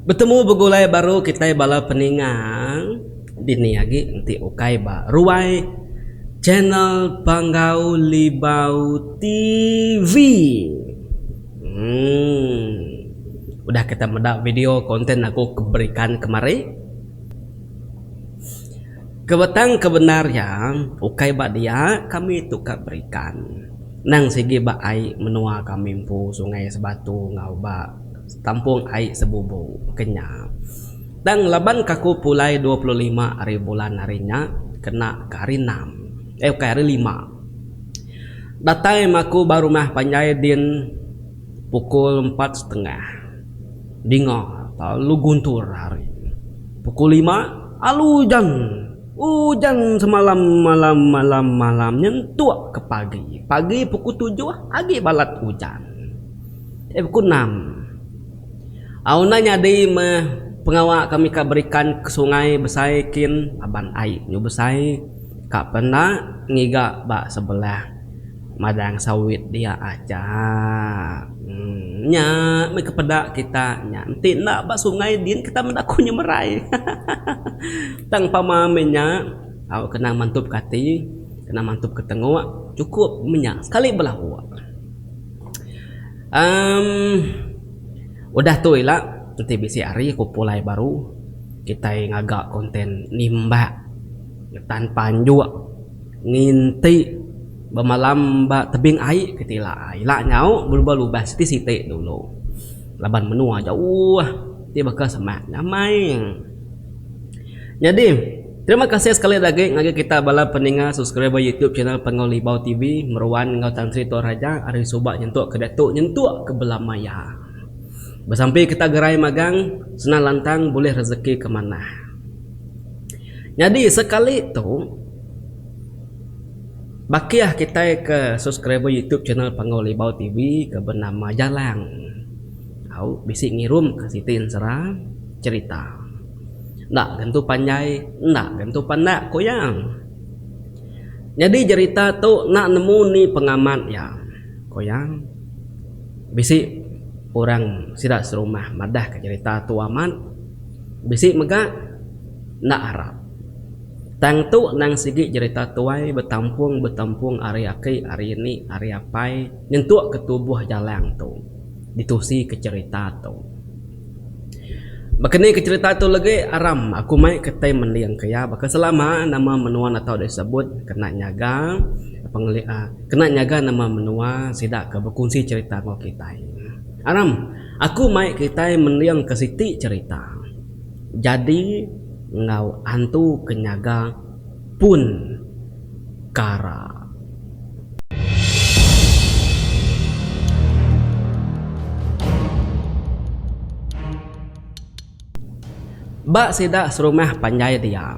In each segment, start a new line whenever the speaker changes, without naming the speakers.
Betemu begulai baru kitai bala peninga dini agi enti ukai ba ruai channel Panggau Libau TV uhh udah kita meda video content aku ke berikan kemari ke tang ke bendar iya ukai ba dia kami tu ka berikan. Endang sigi ba ai menua kami empu sungai sebatu enggau ba tampung ai sebubu ke nya. Tang laban kaku pulai dua puluh lima ari bulan hari nya kena ke hari enam eh ukai hari lima datai maku ba rumah panjai din pukul empat setengah dinga lalu guntur hari pukul lima alu ujan. Ujan semalam malam malam malam nyentuk ke pagi. Pagi pukul tujuh agi balat ujan. Ai pukul enam. Au enda nyadi meh pengawa kami ka berikan ke sungai besai kin aban ai nyu besai ka pe enda ngiga ba sebelah madang sawit dia aja. Emm nya meh ke peda kita nya enti enda ba sungai din kita meda ku nyemerai. Tang pama meh nya, au kena mantupka ati, kena mantupka tengok, chukup meh nya sekali belauk. Em udah tu ila enti bisi hari aku pulai baru kitai ngaga konten nimbak ngetan panjuk nginti bemalam ba tebing ai ke ti ila ai. Ila nyau belubas siti-siti dulu laban menua jauh. Ti baka semak ngamai. Nyadi terima kasih sekali dah agi ngagai kita bala peninga subscriber YouTube channel Panggau Libau TV meruan enggau Tan Sri Tua Raja ari suba nyentuk ke diatu nyentuk ke bela maya. Besampi kita gerai magang senang lantang bulih rezeki ke manah. Nyadi sekali tu bakih kitai ke subscriber YouTube channel Panggau Libau TV ke benama Jalang. Au bisi ngirum ka siti ensera cerita. Enda gentu panjai enda gentu pandak ku iya. Nyadi jerita tu enda nemu ni pengamat iya, ku iya. Bisi orang sida serumah madah ka jerita tu amat. Bisi mega enda arap. Tang tu nang sigi jerita tuai betampung betampung ari aki ari eni ari apai nyentuk ke tubuh jalang tu. ditusika cherita tu. Baka ni ke cherita tu legi aram aku mai ke tai mending ke iya baka selama nama menua enda tau disebut kena nyaga pengelik uhh kena nyaga nama menua sida ke bekunsi cherita enggau kitai. Aram aku mai kitai mending ke siti cherita jadi enggau antu ke nyaga. pun kara. Ba sida serumah panjai dia,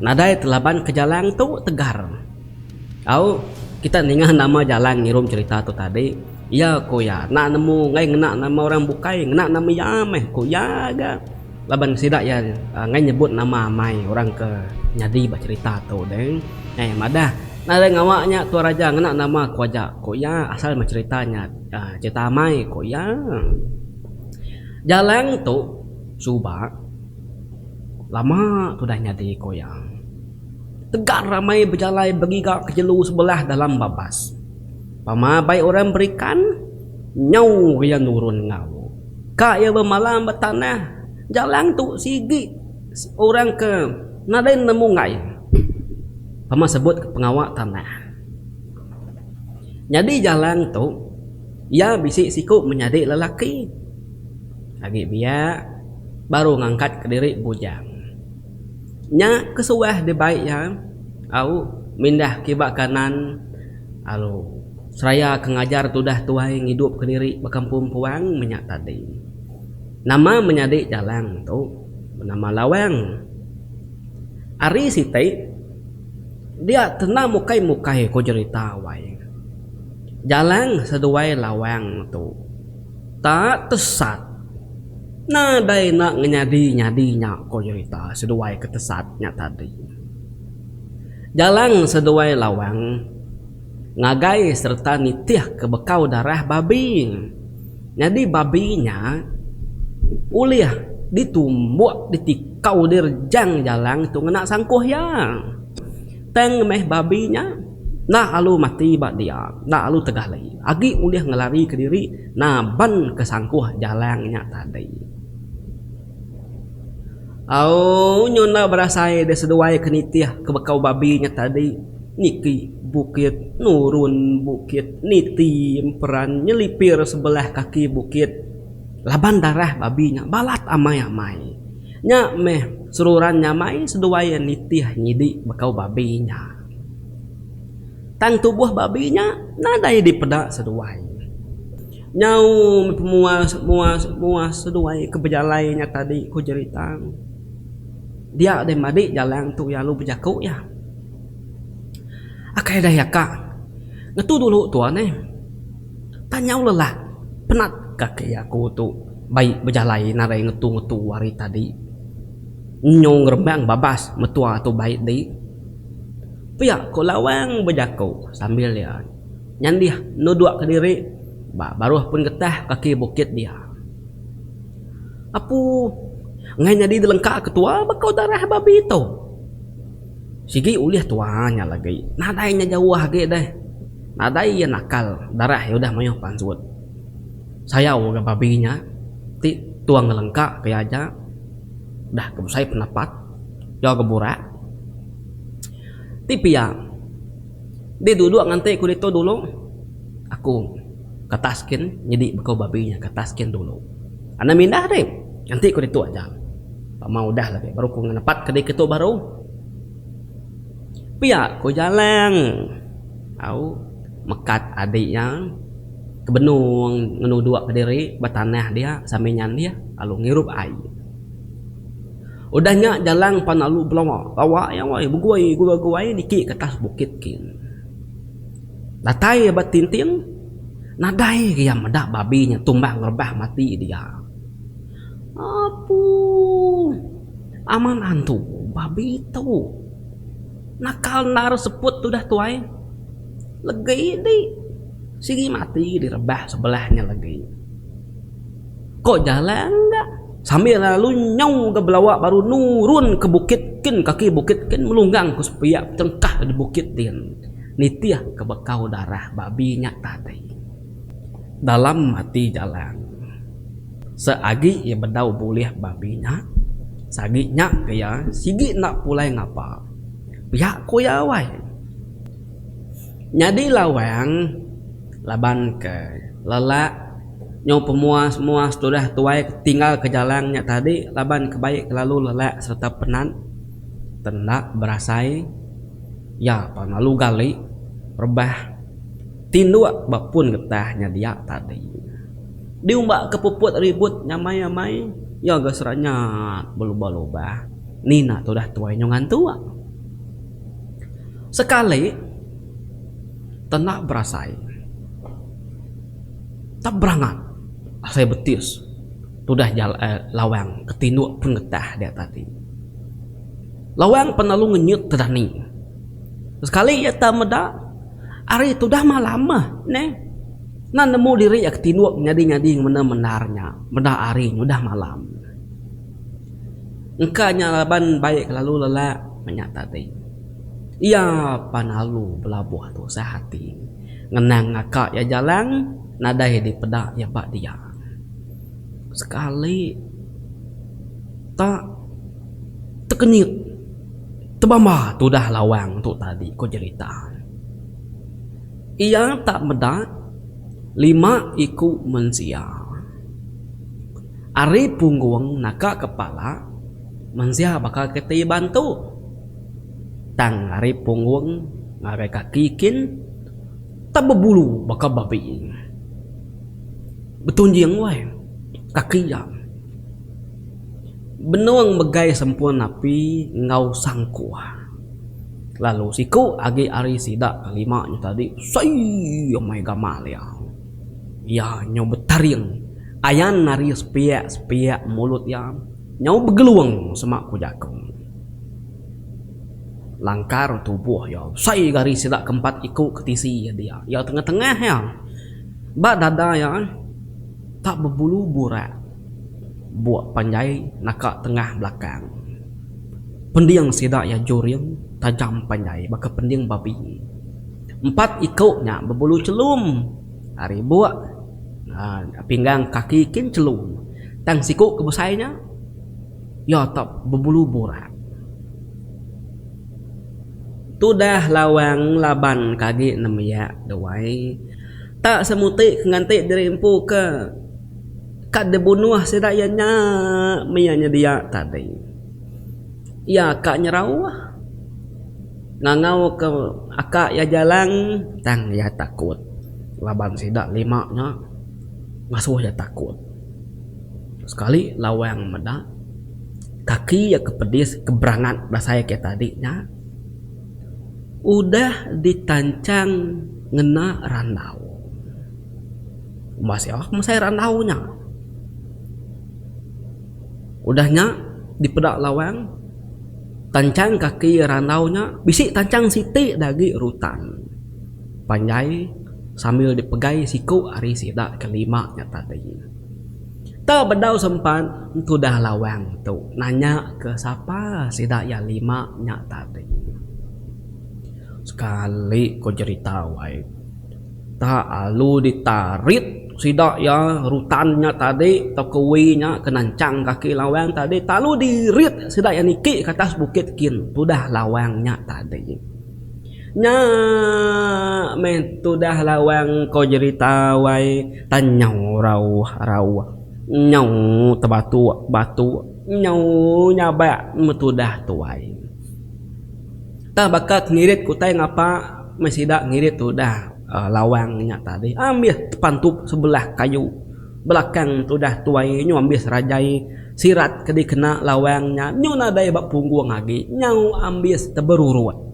nadai telaban ke jalan tu tegar. Au, kita ninga nama jalan ngirum cherita tu tadi, iya ku iya enda nemu enggai ngena nama orang bukai, ngena nama iya meh ku iya ga. Laban sida iya enggai nyebut nama amai orang ke nyadi ba cherita tu deh. Neh madah, nadai ngawa nya tua raja ngena nama ku aja ku iya asal meh cherita nya cherita amai ku iya. Jalang tu suba lama tudah nyadi ku iya. Tegar ramai bejalai begiga ke jelu sebelah dalam babas. Pama abai orang berikan nyau iya nurun enggau. Ka iya bemalam ba tanah jalang tu sigi orang ke nadai nemu enggai pama sebut ke pengawa tanah. Nyadi jalang tu iya bisi siku menyadi lelaki agi biak baru ngangkat ke diri bujang. Nya ke suah dibai iya au mindah kiba kanan alu. Seraya ke ngajar tudah tuai ngidupka diri ba kampung Puang menya tadi. Nama menyadi jalang tu? Benama lawang. Ari siti dia kena mukai-mukai ko jerita wai. Jalang seduai lawang tu tak tesat. Nadai enda ngenyadi-nyadi nya ko jerita seduai ke tesat nya tadi. Jalang seduai lawang. ngagai sereta nitihka bekau darah babi. Nyadi babi nya ulih ditumbuk ditikau di rejang jalang tu ngena sangkuh iya. Tang meh babi nya enda lalu mati ba dia, enda lalu tegali agi ulih ngelarika diri nabanka sangkuh jalang nya tadi. Au nyu enda berasai deh seduai ke nitih ke bekau babi nya tadi niki bukit nurun bukit niti emperan nyelipir sebelah kaki bukit laban darah babi nya balat amai amai nya meh seruran nya amai seduai iya nitih nyidi bekau babi nya tang tubuh babi nya nadai dipeda seduai. Nyau meh mua mua mua seduai ke bejalai nya tadi ku Jeritang. Dia deh madi jalang tu lalu bejaku iya. Akai deh iya ka. Ngetu dulu tuan eh. Tang nyau lelah penat kaki aku tu bai bejalai nadai ngetu ngetu ari tadi. Nyu ngerembang babas metua tu bai di. Pia ku Lawang bejaku sambil iya. Nyandih nuduk ke diri ba baruh pun getah kaki bukit dia. Apu enggai nyadi dilengka ke tua baka darah babi tu. Sigi ulih tua nya lagi, nadai nya jauh agi deh. Nadai iya nakal, darah iya udah mayuh pansut. Sayau mega babi nya ti tua ngelengka ke iya aja udah ke besai pendapat, jaga burak. Ti pia Deh duduk nganti ku ditu dulu. Aku ke atas kin nyadi beko babi nya ke atas kin dulu. Anang mindah deh nganti ku ditu aja. Pama udah lagi baru ku ngenepat ke ditu baru. Pia ku Jalang au mekat adi iya ke benung ngenuduk ke diri ba tanah dia sambil nyandih lalu ngirup ai. Udah nya jalan panalu belawa lawa iya wai begui gua guai niki ke atas bukit kin. Datai iya ba tinting nadai ga iya meda babi nya tumbang rebah mati dia. Apuuh aman antu babi tu nakal endar seput udah tuai legi di sigi mati direbah sebelah nya legi. Ko jalai enda. Sambil lalu nyau ga belawa baru nurun ke bukit kin kaki bukit kin melunggang ku sepiak cengkah ke di bukit din nitih ke bekau darah babi nya tadi. Dalam ati Jalang. Se agi iya bedau bulih babi nya sagi nya ke iya sigi enda pulai ngapa. Pia ko iya awai. Nyadi lawang laban ke lelak. Nyau pemuas muas tudah tuai ke tinggal ke jalang nya tadi laban ke baie kelalu lelak sereta penat ke enda berasai iya pa lalu gali rebah tinduk ba pun getah nya dia tadi. Diumba ke puput ribut nyamai amai iya ga seranyat belubah lubah nina tudah tuai nyau ngantuk sekali te enda berasai. Tang berangat asai betis tudah jalai lawang ke tinduk pun getah dia tadi. Lawang pan lalu ngenyut ke dani. Sekali iya tau meda, ari tudah malam meh neh. Nan nemu diri iya ke tinduk nyadi-nyadi ngemena mendar nya, meda ari ngudah malam. Engka nya laban bai ke lalu lelak meh nya tadi. Iya pan lalu belabuh tusah ati. Ngenang ngaka iya jalang nadai dipeda iya ba dia. Sekali ta tekenyit tebamba tudah lawang tu tadi ko jerita. Iya ta meda lima iku mensia ari punggung naka kepala mensia baka keti bantu. Tang ari punggung ngagai kaki kin tang bebulu baka babi. Betunjing wai kaki iya. Benung megai sempun api enggau sangkuh. Lalu siku agi ari sida ke lima nya tadi sii amai gamal iya. Iya nyau betaring ayan ari sepiak-sepiak mulut iya nyau begelung sema ku jaku. Langkar tubuh iya. Besai gari sida ke empat iku ke tisi iya dia. Iya tengah-tengah iya. Ba dada iya tak bebulu burak. Buk panjai naka tengah belakang. Pending sida iya juring tajam panjai baka pending babi. Empat iku nya bebulu chelum ari buk uhh pinggang kaki kin chelum. Tang siku ke besai nya. Iya tak bebulu burak. Tudah lawang laban ke agi nembiak duai. Tak semuti ke nganti diri empu ke ka dibunuh sida iya nya meh iya nyedia tadi. Iya ka nyerauh ngangau ke aka iya jalang tang iya takut laban sida lima nya ngasuh iya takut. Sekali lawang meda kaki iya ke pedis ke berangat belasai ke tadi nya udah ditanchang ngena randau. Umbah sia ke mesai randau nya. Udah nya dipeda lawang tanchang kaki randau nya bisi tanchang siti da agi rutan panjai sambil dipegai siku ari sida ke lima nya tadi. Tau bedau sempat entudah lawang tu nanya ke sapa sida iya lima nya tadi. Sekali ko jerita wai ta alu di tarit sida iya rutan nya tadi tau kewi nya ke nanchang kaki lawang tadi talu di rit sida iya niki ke atas bukit kin tudah lawang nya tadi. Nya meh tudah lawang ko jerita wai tan nyau rauh rauh nyau tebatuk batuk nyau nyabak meh tudah tuai. Tang baka ngirit ku utai ngapa meh sida ngirit tudah lawang nya tadi ambis tepantup sebelah kayu. Belakang tudah tuai nyu ambis rajai sirat ke dikena lawang nya nyu nadai ba punggung agi nyau ambis teberurut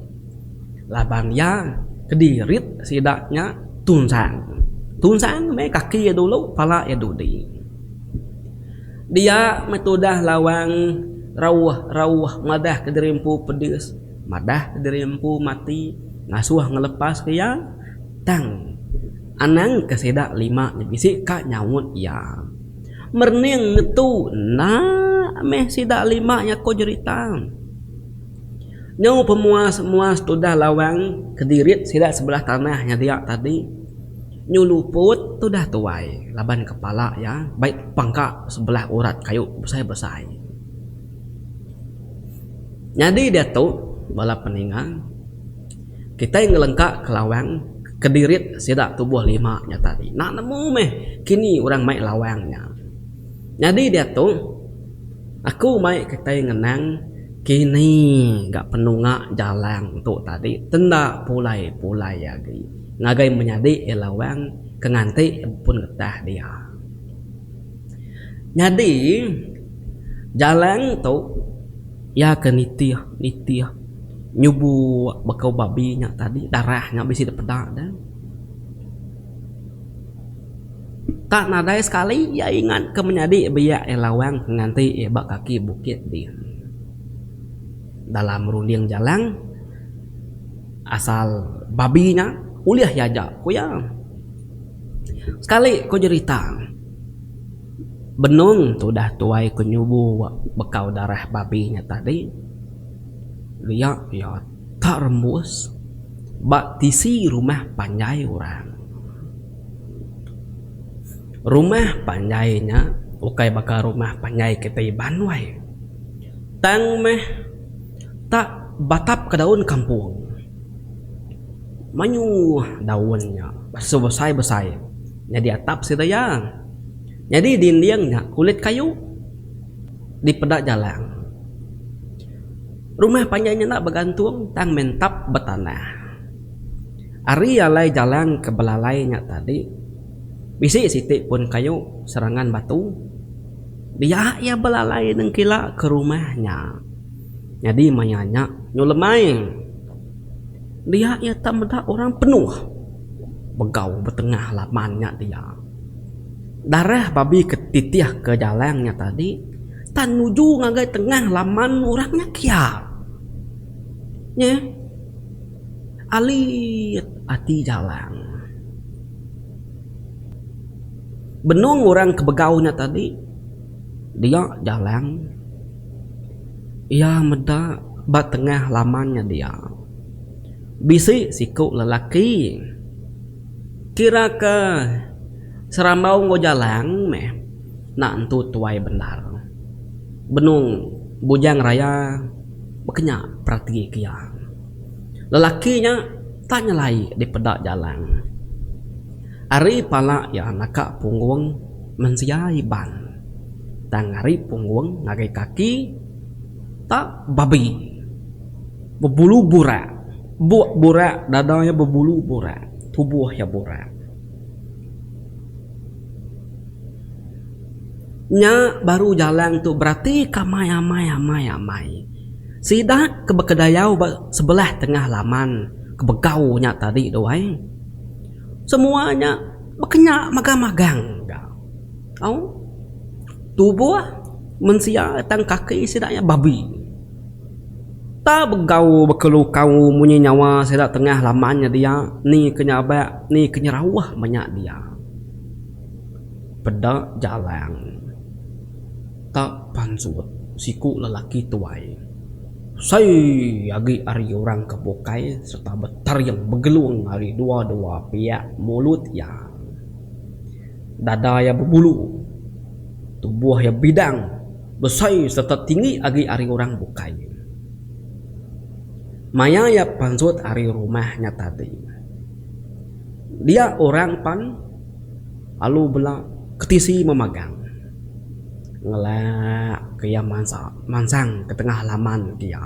laban iya kedirit sida nya tunsang. Tunsang meh kaki iya dulu pala iya dudi. Dia meh tudah lawang rauh rauh madah kediri empu pedis. Madah ke diri empu mati ngasuh ngelepaska iya, tang anang ke sida lima nya bisi ka nyaut iya. Merening ngetu enda meh sida lima nya ko jerita. Nyau pemuas-muas tudah lawang kedirit sida sebelah tanah nya dia tadi. Nyu luput tudah tuai laban kepala iya bai pangka sebelah urat kayu besai-besai. Nyadi diatu, bala peninga, kitai ngelengka ke lawang kedirit sida tubuh lima nya tadi. Enda nemu meh kini orang mai lawang nya. Nyadi diatu, aku mai kitai ngenang kini ga penunga jalan tu tadi tenda pulai-pulai agi ngagai menyadi lawang ke nganti pun getah dia. Nyadi jalan tu iya ke nitih nitih nyubu baka babi nya tadi darah nya bisi dep peda ne. Tak nadai sekali iya ingat ke menyadi biak iya lawang ke nganti iya ba kaki bukit ti. Dalam runding jalan asal babi nya ulih iya aja ku iya. Sekali ku jerita, benung tu udah tuai ku nyubu bekau darah babi nya tadi. Ria iya tak rembus ba tisi rumah panjai orang. Rumah panjai nya ukai baka rumah panjai kitai Iban wai. Tang meh tak batapka daun kampung. Mayuh daun nya besai-besai nyadi atap sida iya. Nyadi dinding nya kulit kayu dipeda jalang. Rumah panjai nya enda begantung tang mentap betanah. Ari alai jalang ke belalai nya tadi bisi siti pun kayu serangan batu. Dia iya belalai nengkila ke rumah nya. Nyadi maya nya nyu lemai dia iya tak meda orang penuh begau betengah laban nya dia. Darah babi ke titih ke jalang nya tadi tak nuju ngagai tengah laman orang nya kia. Nya alit ati jalang. Benung orang ke begau nya tadi dia jalang. Iya meda ba tengah laman nya dia. Bisi siku lelaki kira ke serambau enggau jalang meh enda nentu tuai bendar. Benung Bujang Raya baka nya peratika iya. Lelaki nya tak nyelai dipeda jalang. Ari pala iya naka punggung mensia Iban. Tang ari punggung ngagai kaki ta babi. Bebulu burak. Buk burak dada iya bebulu burak. Tubuh iya burak. Nya baru jalang tu beratika amai amai amai amai. Sida ke bekedayau ba sebelah tengah laman ke begau nya tadi tu ai. Semua nya bekenyak magang magang ga. Au tubuh mensia tang kaki sida iya babi. Tau begau bekelukau munyi nyawa sida tengah laman nya dia ni ke nyabak ni ke nyerauh manya dia. Peda jalang ta pansut siku lelaki tuai sai agi ari orang ke bukai sereta betering begelung ari dua-dua piak mulut iya. Dada iya bebulu, tubuh iya bidang, besai sereta tinggi agi ari orang bukai. Maya iya pansut ari rumah nya tadi, dia orang pan lalu bela ke tisi memagang. Ngelak ke iya mansa mansang ke tengah laman dia.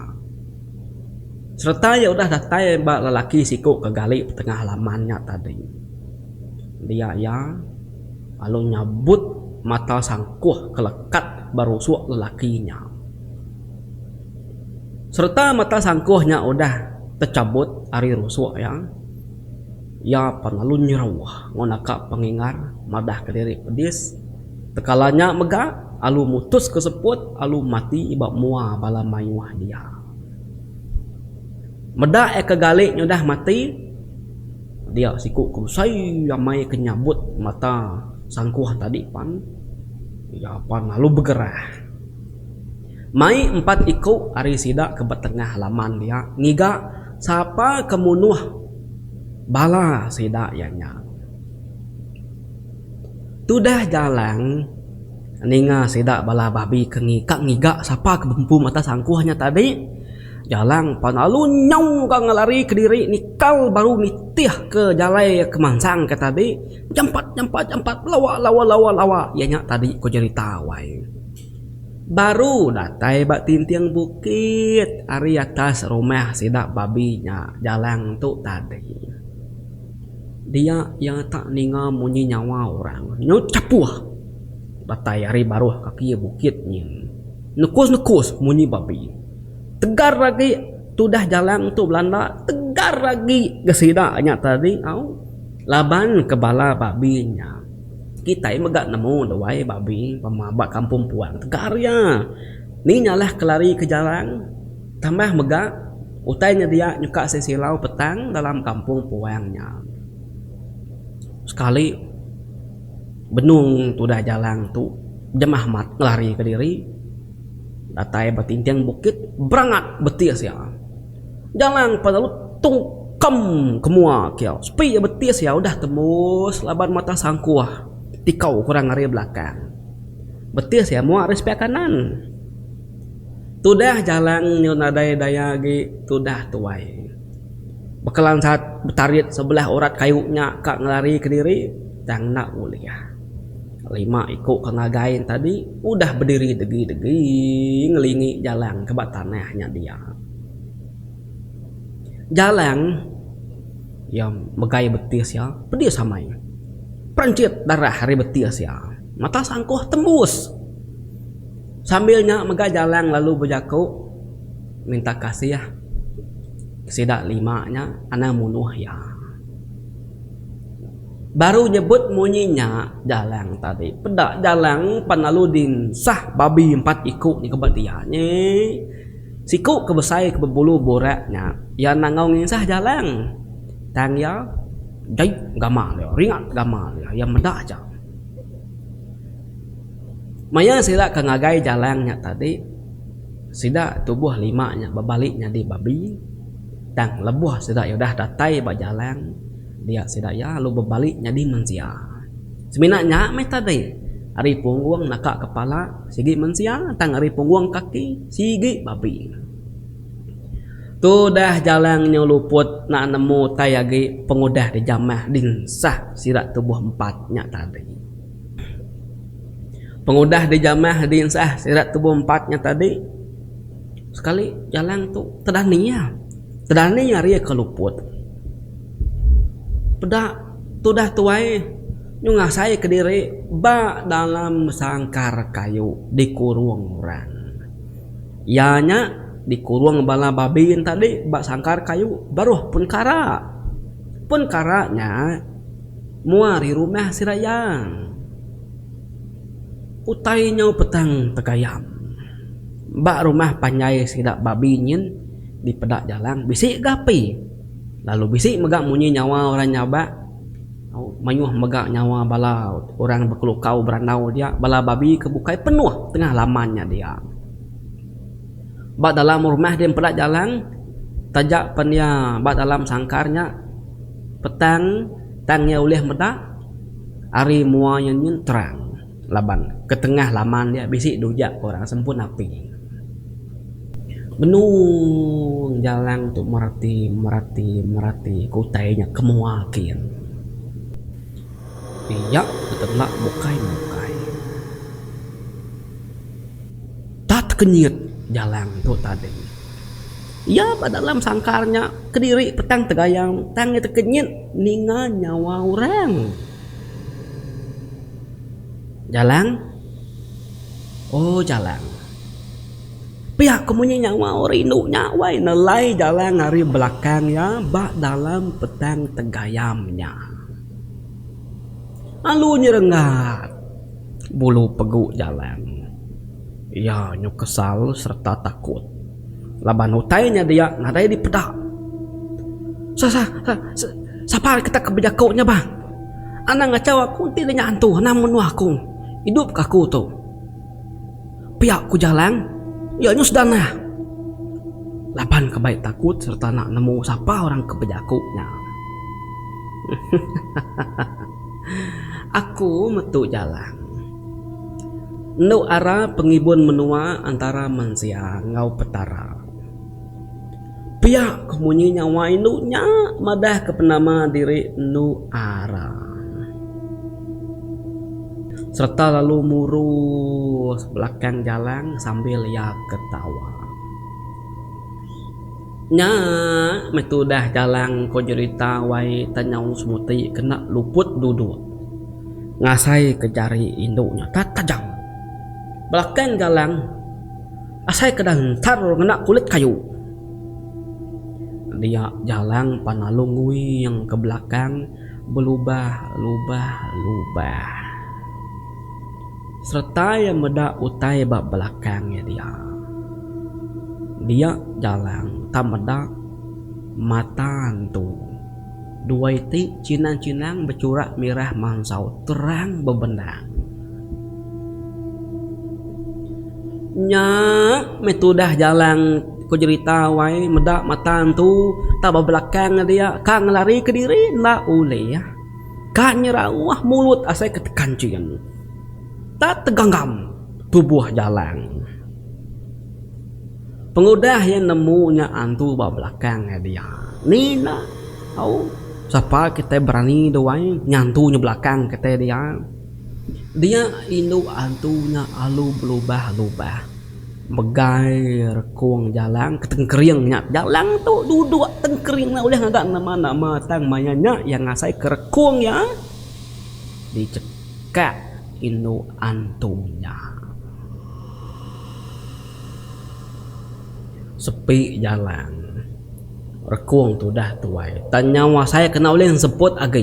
Sereta iya udah datai ba lelaki siku ke gali petengah laman nya tadi. Dia iya, lalu nyabut mata sangkuh ke lekat ba rusuk lelaki nya. Sereta mata sangkuh nya udah techabut ari rusuk iya, iya pan lalu nyeruh ngunaka pengingar madah ke diri pedis. Tekala nya mega, alu mutus ke seput, alu mati ba mua bala mayuh dia. Meda iya ke gali nyudah mati, dia siku ke besai amai ke nyabut mata sangkuh tadi pan. Iya pan lalu begerah. Mai empat iku ari sida ke ba tengah laman dia ngiga sapa ke munuh bala sida iya nya. Tudah Jalang. Ninga sida bala babi ke ka ngiga sapa ke bempu mata sangkuh nya tadi, Jalang pan lalu nyau ga ngelari kediri nikal baru nitihka jalai ke mansang ke tadi, Jampat jampat jampat lawa lawa lawa lawa iya nya tadi ku jerita wai. Baru datai ba tinting bukit ari atas rumah sida babi nya Jalang tu tadi. Dia iya tak ninga munyi nyawa orang nyu chapuh. Datai ari baruh kaki bukit nyin. Nekus-nekus munyi babi. Tegar agi tudah jalang tu belanda, tegar agi ke sida nya tadi au. Laban ke bala babi nya. Kitai mega nemu duai babi pema ba kampung puang. Tegar iya. Ni nya lah ke lari ke jalang. Tambah mega utai nya dia nyuka sisilau petang dalam kampung puang nya. Sekali. Benung tudah jalang tu Jemah amat ngelari ke diri datai ba tinting bukit berangat betis iya. Jalang pan lalu tungkem ke mua kiau sepi iya betis iya udah tembus laban mata sangkuh tikau ke orang ari belakang. Betis iya mua ari sepiak kanan. Tudah jalang nyau nadai daya agi tudah tuai. Bekelan saat betarit sebelah urat kayu nya ka ngelari kediri tang enda ulih. Lima iku ke ngagai tadi udah bediri degi-degi ngelingi jalang ke ba tanah nya dia. Jalang iya megai betis iya pedis amai. Perenchit darah ari betis iya mata sangkuh tembus. Sambil nya mega jalang lalu bejaku. minta kasih sida lima nya anang munuh iya. Baru nyebut munyi nya Jalang tadi peda Jalang pan lalu dinsah babi empat iku nya keba dia nyi siku ke besai ke bebulu burak nya iya nangau nginsah Jalang tang iya jai gama dia ringat gama dia iya meda aja. Maya sida ke ngagai Jalang nya tadi. Sida tubuh lima nya bebali nyadi babi, tang lebuh sida iya udah datai ba jalang dia sida iya lalu bebali nyadi mensia. Semina nya meh tadi, ari punggung naka kepala sigi mensia tang ari punggung kaki sigi babi. Tudah jalang nyu luput enda nemu utai agi pengudah dijamah dinsah sida tubuh empat nya tadi. Pengudah dijamah dinsah sirat tubuh empat nya tadi sekali jalan tu tedani iya. Tedani ari iya ke luput. Peda tudah tuai nyung ngasai ke diri ba dalam sangkar kayu dikurung orang. Iya nya dikurung bala babi nya tadi ba sangkar kayu baruh pun kara. Pun kara nya. Mua ari rumah sida iya. Utai nyau petang tegayam. Ba rumah panjai sida babi nyin di peda jalang bisi ga api. Lalu bisi mega munyi nyawa orang nyabak mayuh mega nyawa bala orang bekelukau berandau dia bala babi ke bukai penuh tengah laman nya dia. Ba dalam rumah di peda jalang taja pen iya ba dalam sangkar nya petang. Tang iya ulih meda ari mua iya nyin terang laban ketengah laman dia bisi dujak ke orang sempun api. Benung Jalang tu merati, merati, merati ke utai nya ke mua kin. Iya betenda bukai-bukai. Tat kenyit jalang tu tadi. Iya ba dalam sangkar nya kediri petang tegayau tang iya tekenyit ninga nyawa orang. Jalang. Oh jalang. Pia ko munyi nyawa orang indu nya wai nelai jalang ari belakang iya ba dalam petang tegayam nya. Lalu nyerenggat. bulu pegu jalan. Iya nyu kesal sereta takut laban utai nya dia nadai dipeda. Sa sa sa sapa kita ke bejaku nya bah. Anang ngachau aku enti inya hantu anang menuh aku. Idup ke aku tu. Pia ku Jalang iya nyu sedar nah. Laban ke bai takut sereta nak nemu sapa orang ke bejaku nya. Aku metu jalang. Endo ara pengibun menua antara mensia enggau Petara. Pia ko munyi nya wai endo nya madah ke penama diri endo ara. Serta lalu murus belakang jalang sambil iya ketawa. Nya meh tudah jalang ko jerita wai Tanyau Semuti kena luput duduk ngasai ke jari indu nya ta tajam. Belakang jalang asai ke dantar ngena kulit kayu. Dia jalang pan lalu nguing ke belakang belubah lubah lubah. Sereta iya meda utai ba belakang iya dia. Dia Jalang tang meda mata entu. Dua iti chinang-chinang bechurak mirah mansau terang bebendang. Nya meh tudah Jalang ko jerita wai meda mata entu tang ba belakang iya dia ka ngelari kediri enda ulih. Ka nyerauh mulut asai ke tekan chin. Ta teganggam tubuh jalang. Pengudah iya nemu nya antu ba belakang ngai dia. Ni enda tau sapa kitai berani duai nyantu nya belakang kitai dia. Dia indu antu nya alu belubah-lubah. Megai rekung jalang ke tengkering nya. Jalang tu duduk tengkering enda ulih ngaga nama-nama tang maya nya iya ngasaika rekung iya dichekak indu antu iya. Sepi jalang rekung tu udah tuai tang nya ngasaika enda ulih nsebut agi.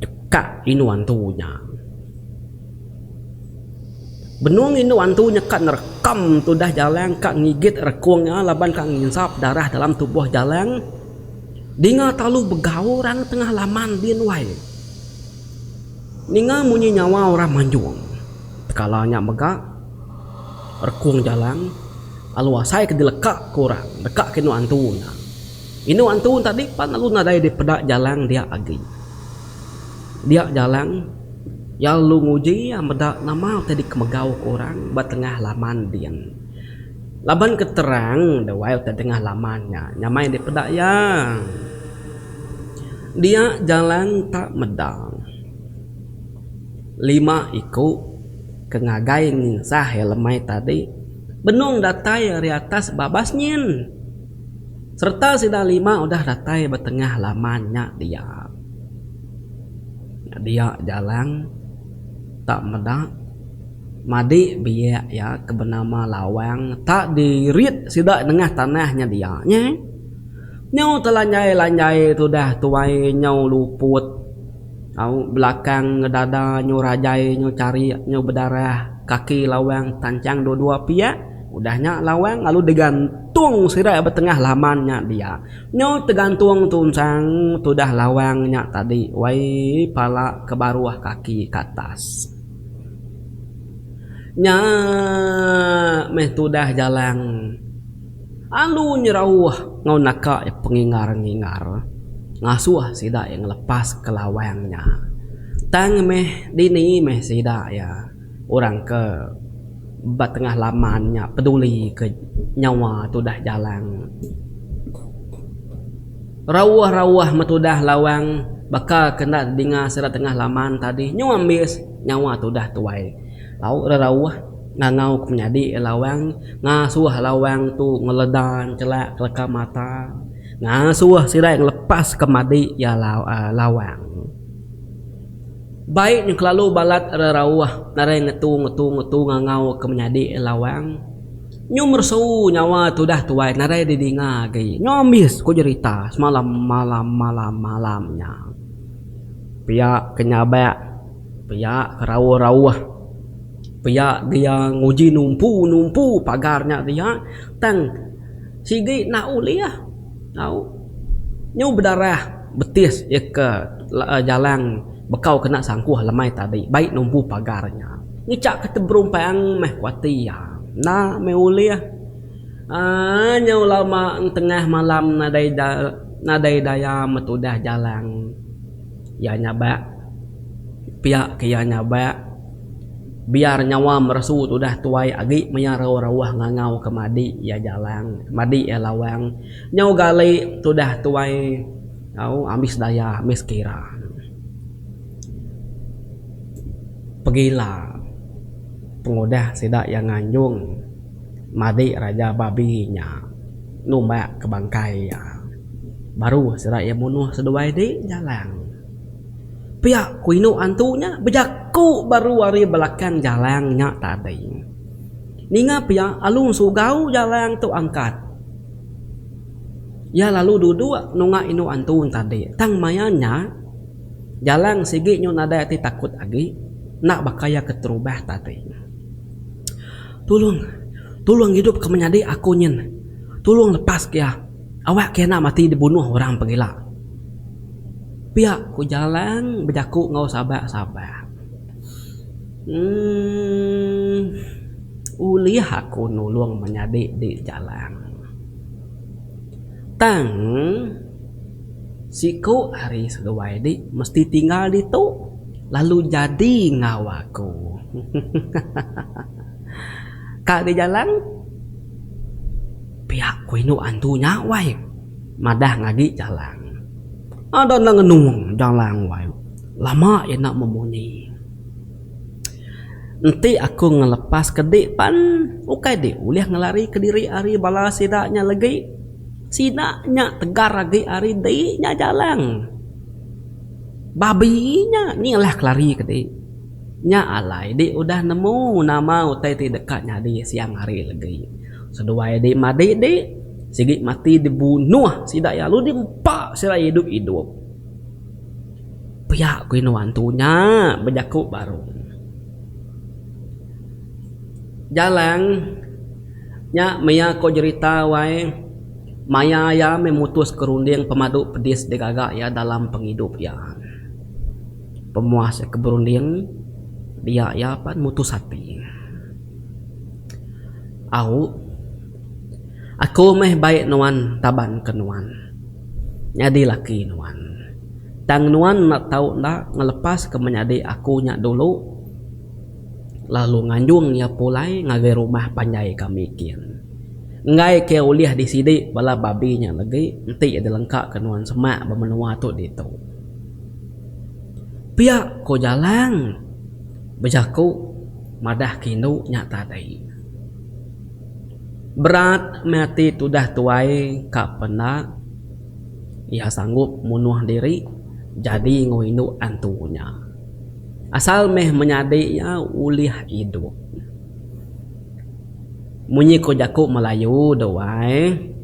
Chekak indu antu iya. Benung indu antu nya ka nerekam tudah Jalang ka ngigit rekung nya laban ka nginsap darah dalam tubuh Jalang. Dinga talu begau orang tengah laman din wai. Ninga munyi nyawa orang manjung. Tekala nya mega rekung Jalang lalu asai ke dileka ku orang deka ke indu antu nya. Indu antu enti tadi pan lalu nadai dipeda Jalang dia agi. Dia Jalang, iya lalu nguji iya meda nama ti dikemegau ku orang ba tengah laman din. Laban ke terang dewai utai dengah laman nya nyamai dipeda iya. Dia Jalang ta meda lima iku ke ngagai nginsah iya lemai tadi benung datai ari atas babas nyin. Sereta sida lima udah datai ba tengah laman nya dia. Nya dia Jalang tak meda madi biak iya ke benama Lawang tak dirit sida nengah tanah nya dia. Nyau telanjai-lanjai tudah tuai nyau luput. Au belakang ngedada nyu rajai nyu carik nyu bedarah kaki lawang tanchang dua dua piak udah nya lawang lalu digantung sida ba tengah laman nya dia nyu tegantung tu ensang tudah lawang nya tadi wai pala ke baruh kaki ke atas nya meh tudah jalang. Andu nyerauh enggau naka iya pengingar-ngingar ngasuh sida iya ngelepaska lawang nya. Tang meh dini meh sida iya orang ke ba tengah laman nya pedulika nyawa tudah jalang. Rauh-rauh meh tudah lawang baka ke enda tedinga sida tengah laman tadi nyau ambis nyawa tudah tuai. Lauk rerauh ngangau ke menyadi lawang ngasuh lawang tu ngeleda nchelak keleka mata ngasuh sirai ngelepas ke madi iya lawang. Bai nyau kelalu balat rerauh narai ngetu ngetu ngetu ngangau ke menyadi lawang. Nyu meresu nyawa tudah tuai narai didinga agi nyu ambis ku jerita semalam malam malam malam nya. Pia ke nyabak. Pia ke rauh-rauh. Pia dia nguji numpu-numpu pagar nya dia tang sigi enda ulih tau nyu bedarah betis iya ke jalang bekau kena sangkuh lemai tadi bai numpu pagar nya. Ngicha ke teberumpang meh ku ati iya. Enda meh ulih uhh nyu lama tengah malam nadai nadai daya metudah jalang. Iya nyabak, pia ke iya nyabak, biar nyawa meresu tu udah tuai agi maya rauh-rauh ngangau ke madi iya jalang, madi iya lawang. Nyau gali tu udah tuai au ambis daya, ambis kira. Pegila pengudah sida iya nganjung madi raja babi nya numbak ke bangkai iya. Baru sida iya munuh seduai di jalang. Pia ku indu antu nya bejaku baru ari belakang jalang nya tadi. Ninga pia alu sugau jalang tu angkat. Iya lalu duduk nunga indu antu tadi. Tang maya nya jalang sigi nyau nadai ati takut agi enda baka iya keterubah tadi. Tulung tulung idup ka menyadi aku nyin. Tulung lepas ka iya. Awak ke enda mati dibunuh orang pengila. Pia ku Jalang bejaku enggau sabar-sabar. Emm. Ulih aku nulung menyadi di Jalang. Tang siku hari seduai di mesti tinggal ditu lalu jadi enggau aku. Hehehe. Ka di Jalang. Pia ku indu antu nya wai madah ngagi Jalang. Ada enda ngenung Jalang wai lama iya enda memunyi. Enti aku ngelepas ke dik pan ukai dik ulih ngelari ke diri ari bala sida nya legi. Sida nya tegar agi ari dik nya Jalang. Babi nya ni ngelah kelari ke dik. Nya alai dik udah nemu nama utai ti deka nyadi siang hari legi. Seduai dik madik dik, sigi mati dibunuh sida iya lalu diempa sida idup idup. Pia ku inu antu nya bejaku baru. Jalang nya maya ko jerita wai maya iya meh mutus ke runding pemadu pedis digaga iya dalam pengidup iya. Pemuah sia ke berunding dia iya pan mutus ati. Au. Aku meh bai nuan taban ke nuan nyadi laki nuan. Tang nuan enda tau enda ngelepas ke menyadi aku nya dulu lalu nganjung iya pulai ngagai rumah panjai kami kin. Enggai ke ulih di sidi bala babi nya legi enti iya dilengka ke nuan semak ba menua tu ditu. Pia ko Jalang bejaku madah ke indu nya tadi. Berat meh ati tudah tuai ka penda iya sanggup munuh diri jadi enggau indu antu nya. Asal meh menyadi iya ulih idup. Munyi ko jaku Melayu dua ai.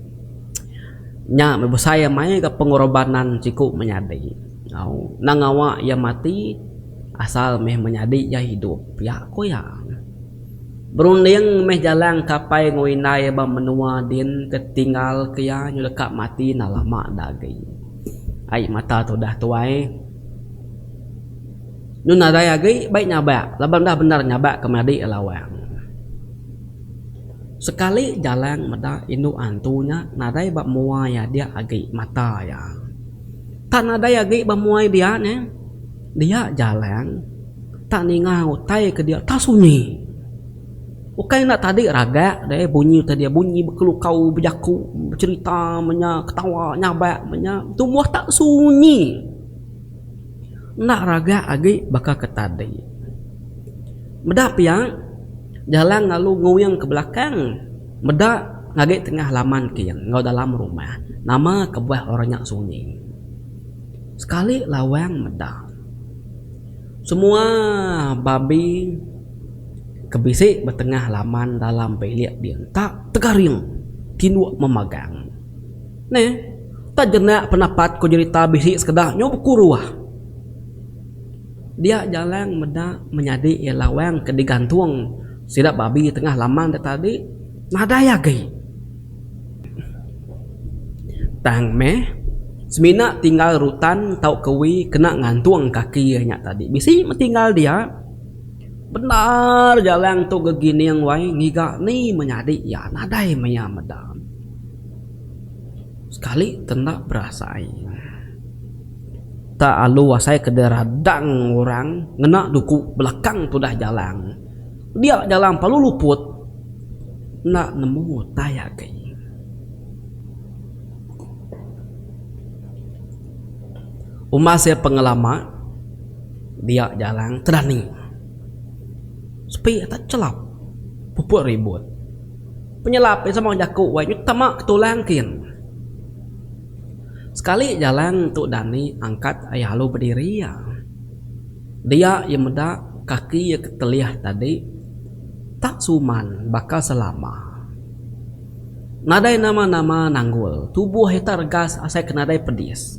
Nya meh besai amai ga pengorobanan siku menyadi. Endang ngawa iya mati asal meh menyadi iya hidup pia ku iya. Berunding meh jalang kapai enggau indai ba menua din ke tinggal ke iya nyau deka mati enda lama da agi. Ai mata tudah tuai. Nun nadai agi bai nyabak laban udah bendar nyabak ke menyadi iya lawang. Sekali Jalang meda indu antu nya nadai ba mua iya dia agi mata iya tak nadai agi ba mua iya dia neh dia Jalang tak ninga utai ke dia tak sunyi ukai enda tadi ragak deh bunyi utai dia bunyi bekelukau bejaku becerita menya ketawa nyabak menya tumbuh tak sunyi. Enda raga agi baka ke tadi. Meda pia jalan lalu nguing ke belakang meda ngagai tengah laman kin enggau dalam rumah nama kebuah orang nya sunyi. Sekali lawang meda semua babi ke bisi ba tengah laman dalam bilik ding tak tegaring tinduk memagang. Neh, tang jenak penapat ku jerita bisi sekeda nyau bekuruh. Dia jalang meda menyadi iya lawang ke digantung sida babi tengah laman da tadi nadai agi. Tang meh, semina tinggal rutan tauka wi kena ngantung kaki iya nya tadi. Bisi meh tinggal dia, bendar jalang tu gegining wai ngiga ni menyadi iya. Nadai maya meda. Sekali ke enda berasai. Tak alu asai ke diradang orang ngena duku belakang tudah jalang. Dia jalang palu luput enda nemu utai agi. Umbas iya pengelama dia jalang terani. Sepi atai chelap puput ribut. Penyelap iya sama jaku wai nyau tama ke tulang kin. Sekali jalang tu dani angkat ai alu bediri iya. Dia iya meda kaki iya ke telih tadi tak suman baka selama. Nadai nama-nama nanggul tubuh iya tak regas asai ke nadai pedis.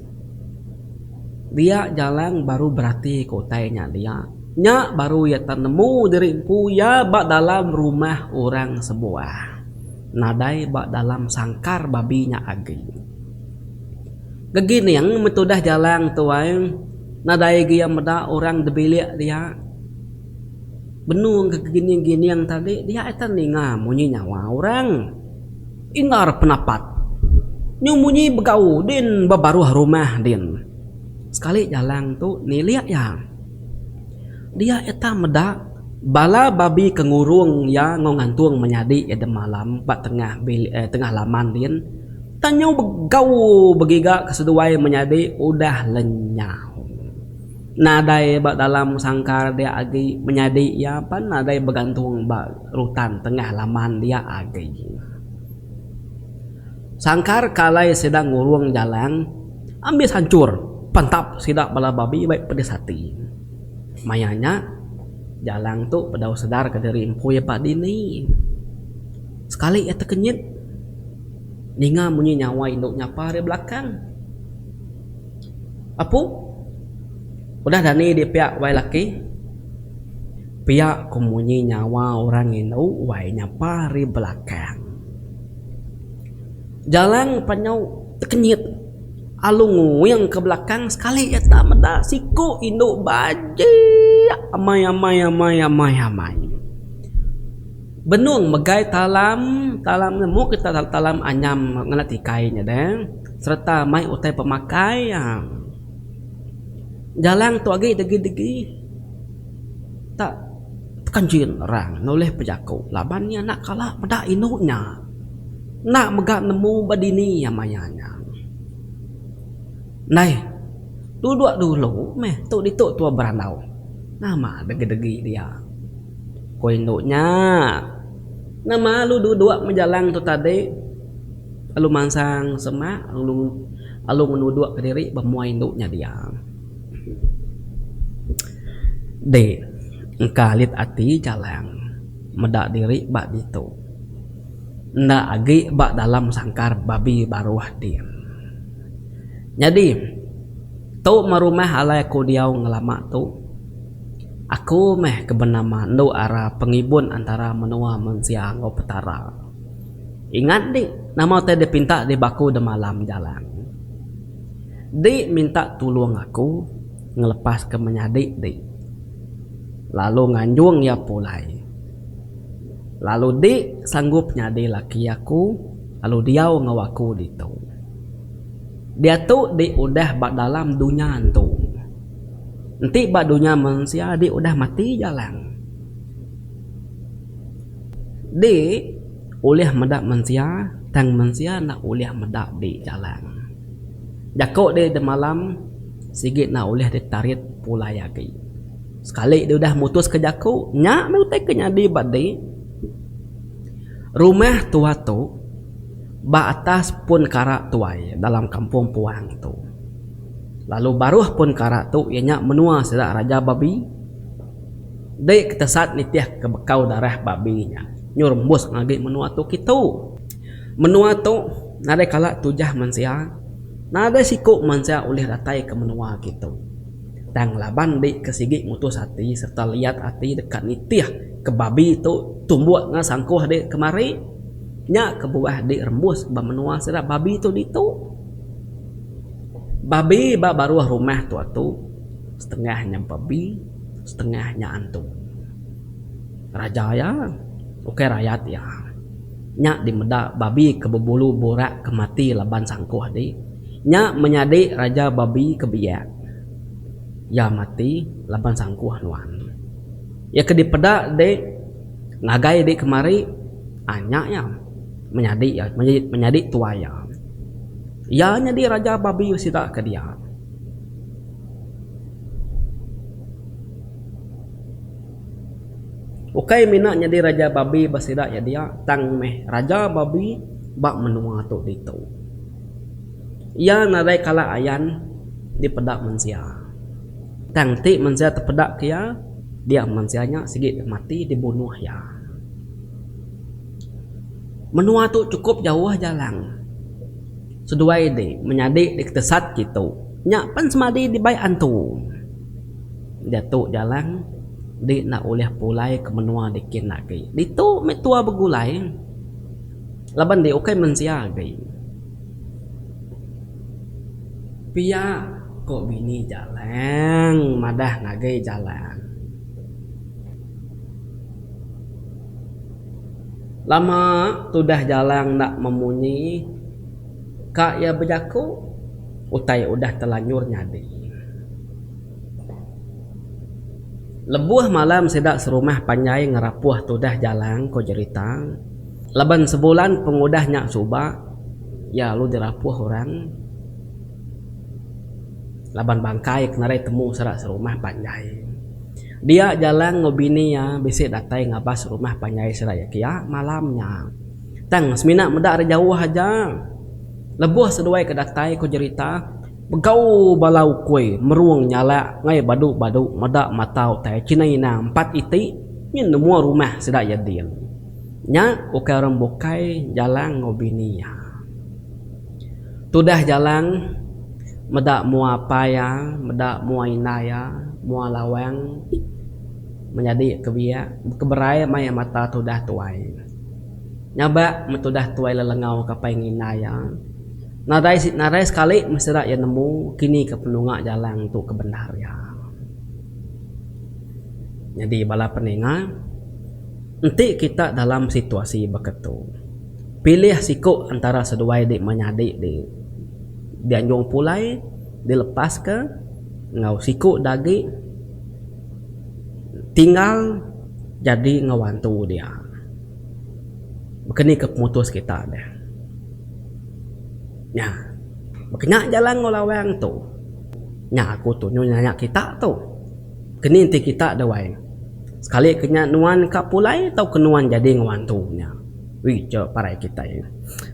Dia Jalang baru beratika utai nya dia. Nya baru iya tenemu diri empu iya ba dalam rumah orang sebuah. Nadai ba dalam sangkar babi nya agi. Gegining meh tudah Jalang tu ai, nadai agi iya meda orang di bilik dia. Benung gegining-gining tadi, dia akan ninga munyi nyawa orang. Indar penapat. Nyu munyi begau din ba baruh rumah din. Sekali jalang tu nilik iya. Dia iya tang meda bala babi ke ngurung iya enggau ngantung menyadi iya demalam ba tengah bilik eh tengah laman din tang nyu begau begiga ke seduai menyadi udah lenyau. Nadai ba dalam sangkar dia agi menyadi iya pan nadai begantung ba rutan tengah laman dia agi. Sangkar ke alai sida ngurung jalan ambis hancur pentap sida bala babi baik pedis ati. Maya nya jalan tu bedau sedar ke diri empui ba dini. Sekali iya tekenyit ninga munyi nyawa indu nyapa ari belakang. Apu, udah dani di piak wai laki. Pia ku munyi nyawa orang indu wai nyapa ri belakang. Jalang penyu tekenyit alu nguing ke belakang sekali iya enda meda siku indu bajik amai amai amai amai amai. Benung megai talam, talam ne mu ke talam anyam ngena tikai nya deh. Sereta mai utai pemakai iya. Galang tu agi degi-degi tak tekenjin orang nulih bejaku laban iya enda kala meda indu nya. Enda mega nemu ba dini iya maya nya. Neh, duduk dulu meh tu ditu tua berandau. Nama degi-degi dia? Ku indu nya. Nama lu duduk meh Jalang tu tadi? Lalu mansang semak lalu ngenuduk ke diri ba muai indu nya dia. Deh engka alit ati jalang meda diri ba ditu. Enda agi ba dalam sangkar babi baruh din. Nyadi tu meh rumah alai aku diau ngelama tu. Aku meh ke benama endu ara pengibun antara menua mensia enggau Petara. Ingat di nama utai dia pinta di baku da malam jalan. Di minta tulung aku ngelepas ke menyadi di lalu nganjung iya pulai. Lalu di sanggup nyadi laki aku lalu diau enggau aku ditu. Diatu di udah ba dalam dunya entu. Enti ba dunya mensia di udah mati jalang. Di ulih meda mensia tang mensia enda ulih meda di jalan. Jaku di demalam sigi enda ulih ditarit pulai agi. Sekali di udah mutuska jaku nya meh utai ke nyadi ba di rumah tua tu ba atas pun kara tuai dalam kampung puang tu lalu baruh pun kara tu iya nya menua sida raja babi. Dei ketesat nitih ke bekau darah babi nya nyu rembus ngagi menua tu kitu. Menua tu nadai kala tujah mensia, nadai siku mensia ulih datai ke menua kitu. Tang laban di ke sigi mutus ati serta liat ati deka nitih ke babi tu tumbuk enggau sangkuh di kemari, nya kebuah di rembus ba menua sida babi tu ditu. Babi ba baruh rumah tu atu setengah nyampa bi. setengah nya antu. Raja iya, ukai rayat iya, nya dimeda babi ke bebulu burak ke mati laban sangkuh di. Nya menyadi raja babi ke biak. Iya mati laban sangkuh nuan. Iya ke dipeda di ngagai di kemari, uhh nya iya menyadi iya menyadi tuai iya. Iya nyadi raja babi sida ke dia. Ukai mina nyadi raja babi ba sida iya dia tang meh raja babi ba menua tu ditu. Iya nadai kala ayan dipeda mensia. Tang ti mensia tepeda ke iya dia mensia nya sigi deh mati dibunuh iya. Menua tu chukup jauh jalang seduai di menyadi di ketesat kitu. Nya pen semadi dibai antu. Diatu Jalang di enda ulih pulai ke menua di kin agi. Ditu meh tua begulai laban di ukai mensia agi. Pia ko bini Jalang madah ngagai Jalang. Lama tudah Jalang enda memunyi. Ka iya bejaku utai udah telanjur nyadi. Lebuh malam sida serumah panjai ngerapuh tudah jalang ko jerita laban sebulan pengudah nya suba iya lalu dirapuh orang laban bangkai ke nadai temu sida serumah panjai. Dia jalang enggau bini iya bisi datai ngabas rumah panjai sida iya kiya malam nya. Tang semina meda ari jauh aja. Lebuh seduai ke datai ku jerita, begau bala ukui merung nyalak ngai badu-badu meda mata utai kina ina empat iti nyin nemua rumah sida iya din. Nya ukai orang bukai Jalang enggau bini iya. Tudah Jalang meda mua apai iya, meda mua indai iya, mua Lawang menyadi kebiak bekeberai mai mata tudah tuai. Nyabak metudah tuai lelengau ke apai ngina iya. Nadai si nadai sekali mesti ira iya nemu kini ke penunga jalang tu ke bendar iya. Nyadi bala peninga enti kita dalam situasi baka tu pilih siku antara seduai ti menyadi ti dianjung pulai dilepas ka enggau siku ti agi tinggal. jadi enggau antu dia. Baka ni ke pemutus kita deh. Nya. Baka nya jalan enggau lawang tu. Nya aku tunyu nanya kita tu. Keni enti kita da wai sekali ke nya nuan ka pulai tauka nuan jadi enggau antu nya. Ui ija parai kitai.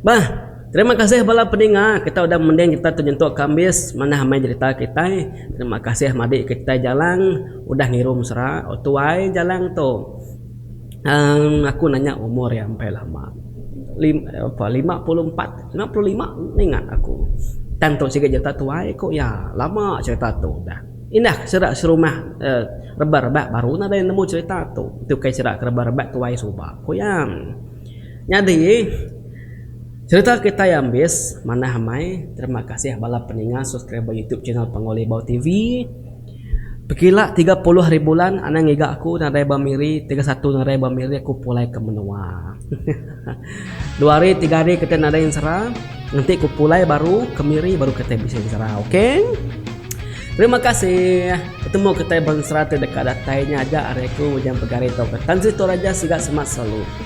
Bah. Terima kasih bala peninga kita udah mending kita tu nyentuk kambis manah amai jerita kitai. Terima kasih madi ke kitai Jalang udah ngiru mesra. Oh tuai Jalang tu uhh aku nanya umur iya empai lama. Lim ape lima puluh empat lima puluh lima ninga aku. Tang tu siga jerita tuai ku iya. Lama jerita tu udah. Indah ke sera serumah uhh rebak rebak baru nadai nemu jerita tu. Tu kai sera ke rebak rebak tuai suba ku iya. Nyadi. Sereta kitai ambis manah amai terima kasih bala peninga subscriber youtube channel Panggau Libau TV pekila tiga puluh hari bulan anang ngiga aku nadai ba miri tiga satu nadai ba miri aku pulai ke menua hehehe dua hari tiga hari kitai nadai ensera enti ku pulai baru ke miri baru kitai bisi ensera ok terima kasih betemu kitai bensera ti deka datai nya aja ari aku Ujang Pegari tauka Tan Sri Toraja siga semak selalu.